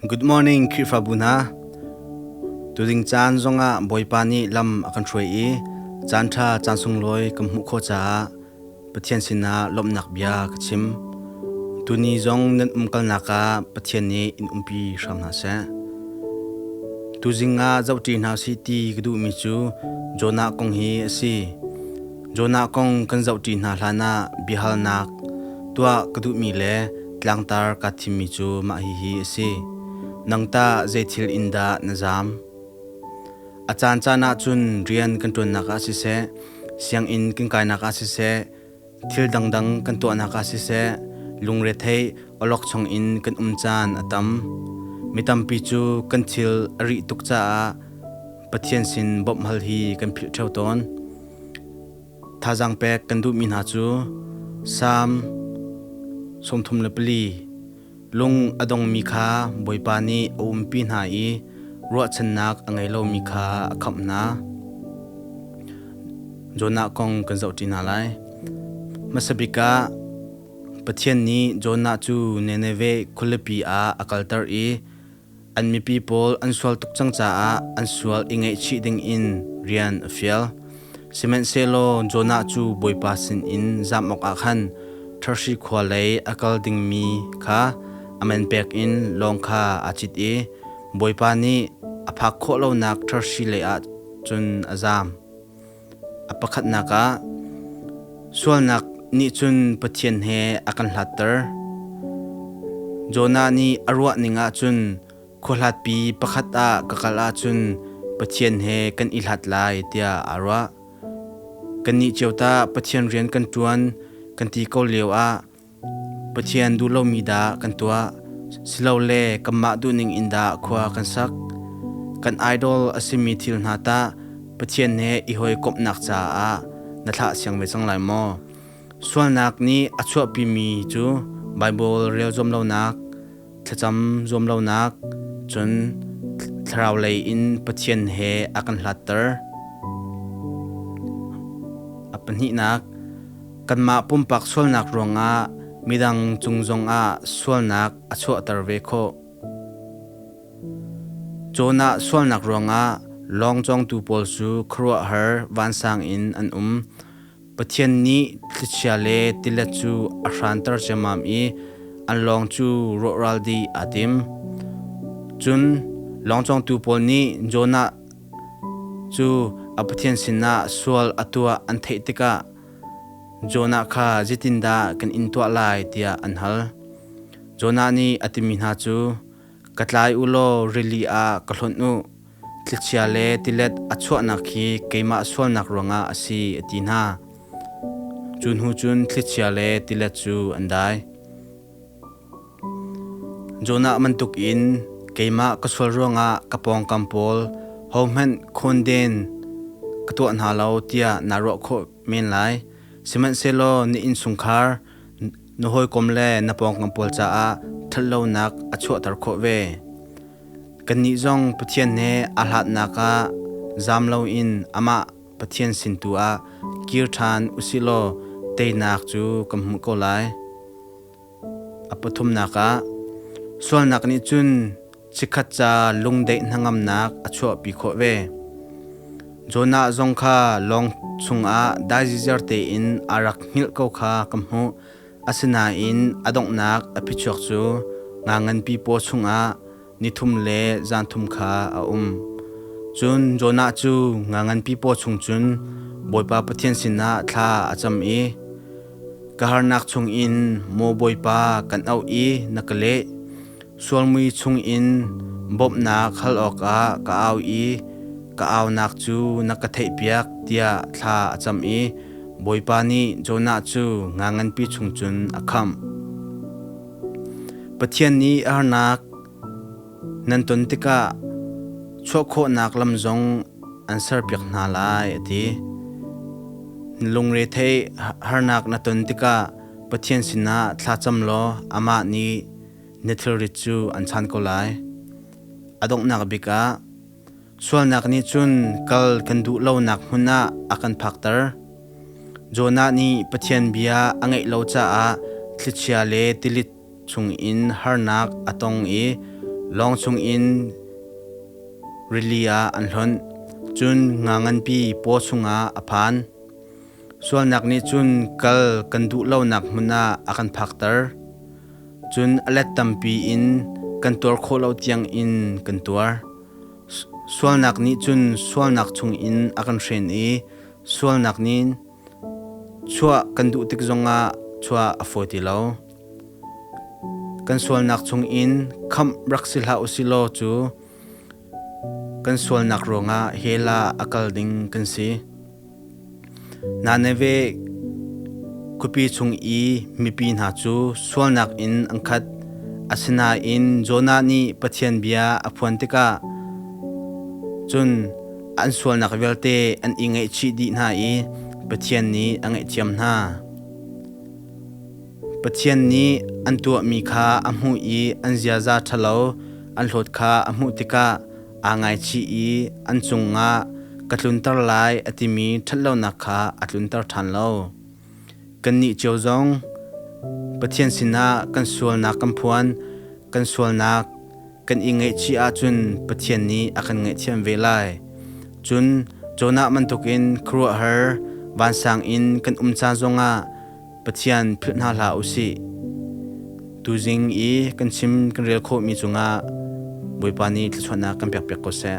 Good morning Khrihfabu hna. Tuding caan zongah Bawipa nih lam a kan hruai i caanṭha caan sunglawi kan hmuh khawh caah Pathian sinah lawmhnak bia ka chim. Tuni zong nan umkalnak ah Pathian nih in umpi hram hna seh. Tuzing ah zoh ṭi hna sih ti ka duhmi cu Jonah kong hi a si. Jonah kong kan zoh ṭi hna hlanah biahalnak tuah ka duhmi le tlangtar kaa thimmi cu mah hihi a si: Nang tah zeithil in dah na zaam? A caancaan ah cun rian kan ṭuannak ah siseh, sianginn kan kainak ah siseh, thil dangdang kan tuahnak ah siseh, lungretheih awlokchong in kan um caan a tam. Mi tampi cu kan thil a rih tuk caah Pathian sin bawmh hal hi kan philh ṭheo tawn. Thazaang pek kan duhmi hna cu Salm sawmthum le pali, Lung a dongmi kha Bawipa nih a umpi hna i ruahchannak a ngei lomi kha a khamh hna. Jonah kong kan zohṭi hna lai. Hmasa bik ah Pathian nih Jonah cu Nineveh khualipi ah a kalter i An mipi pawl an sual tuk cang caah an sual i ngaihchih dingin rian a fial. Sihmanhsehlaw Jonah cu Bawipa sinin zam awkah khan Tharsi khua lei a kal dingmi kha a man pek in lawng kha aa cit i Bawipa nih a phak khawh lonak Tharsi leiah cun a zam. A pakhatnak ah sualnak nih cun Pathian he a kan hlatter. Jonah nih a ruah ning ah cun khuahlatpi pakhat ah ka kal ahcun Pathian he kan i hlat lai tiah aa ruah. Kannih cio tah Pathian rian kan ṭuan kan ti ko lio ah Pathian duh lomi dah kan tuah silole kanmah duhning in dah khua kan sak? Kan idol a simi thil hna tah Pathian he i hawikomhnak caah na thlah siang ve cang lai maw? Sualnak nih a chuahpimi cu Baibal rel zuam lonak, Thlacam zuam lonak cun thlarau lei in Pathian he a kan hlatter. A pahnihnak, kanmah pumpak sualnak ruangah midang cung zongah sualnak a chuahter ve khawh. Jonah sualnak ruangah lawng cawngtu pawl cu khuaruahhar vansang in an um. Pathian nih thlichia le tilet cu a hranter ciammam i an lawng cu rawhral dih aa tim. Cun lawng cawngtu pawl nih Jonah cu a Pathian sinah sual a tuah an theih tikah Jonah kha zeitindah kan in tuah lai tiah an hal. Jonah nih a timi hna cu, “Ka tlai u law rili ah ka hlonh u. Tlikchia le tilet a chuahnak hi keimah sualnak ruangah a si, a ti hna. Cu hnu cun thlichia le tilet cu an dai. Jonah bantuk in keimah ka sual ruangah ka pawngkam pawl hohmanh khawnden ka tuah hna lo tiah naa ruah khawh men lai. Sihmanhsehlaw na innchungkhar Na hawikom le na pawngkam pawl caah ṭhatlonak a chuahter khawh ve. Kannih zong Pathian he aa hlatnak ah zaam loin amah Pathian sin tu ah kir ṭhan usihlaw teinak cu kan hmuh ko lai. A pathumnak ah, sualnak nih cun Chikkhat ca lungdeih hnangamnak a chuahpi khawh ve. Jonah zong kha lawng chungah daizizer tein a rak hngilh ko kha ka hmuh. Asinain a donghnak a phichuak cu nga nganpi paw chungah ni thum le zan thum kha a um. Cun Jonah cu nga nganpi paw chung cun Bawipa Pathian sinah thla a cam i, Ka harnak chungin maw Bawipa, kan auh i na ka leh. Sualmui chungin bawmhnak hal awkah ka au i ka aunak cu na ka theihpiak tiah thla a cam i Bawipa nih Jonah cu nga nganpi chung cun a khamh. Pathian nih a harnak nan ton tikah chuah khawhnak lam zong an serpiak hna lai a ti. Na lungre theih harnak na ton tikah Pathian sinah thlacam law amah nih na thilrit cu an chan ko lai. A donghnak bik ah, sualnak nih cun kal kan duh lonak hmun ah a kan phakter. Jonah nih Pathian bia a ngaih lo caah thlichia le tilit chungin harnak a tong i lawng chungin rili ah an hlonh, cun nga nganpi paw chungah a phan. Sualnak nih cun kal kan duh lonak hmun ah a kan phakter. Cun a let tampi in kan tuar khawh lo tiangin kan tuar. Sualnak nih cun sualnak chungin a kan hren i sualnak nih chuah kan duh tik zongah chuah a fawi ti lo. Kan sualnak chungin khamh rak si hlah u sih law cu Kan sualnak ruangah Hela a kal ding kan si. Naneve khuapi chung i mipi hna cu sualnak in an khat. Asinain Jonah nih Pathian bia a phuan tikah cun an sualnak vialte an i ngaihchih dih hna i Pathian nih a ngaihthiam hna. Pathian nih an tuahmi kha a hmuh i an ziaza ṭhalo an hlawt kha a hmuh tikah aa ngaichih i an cungah ka tlunter lai a timi ṭhatlonak kha a tlunter ṭhan lo. Kannih cio zong Pathian sinah kan sualnak kan phuan, kan sualnak kan i ngaihchih ahcun Pathian nih a kan ngaihthiam ve lai. Cun Jonah bantukin khuaruahhar vansang in kan um ca zongah Pathian philh hna hlah u sih. Tuzing i kan chim kan rel khawhmi cungah Bawipa nih thluachuahnak kan pekpiak ko seh.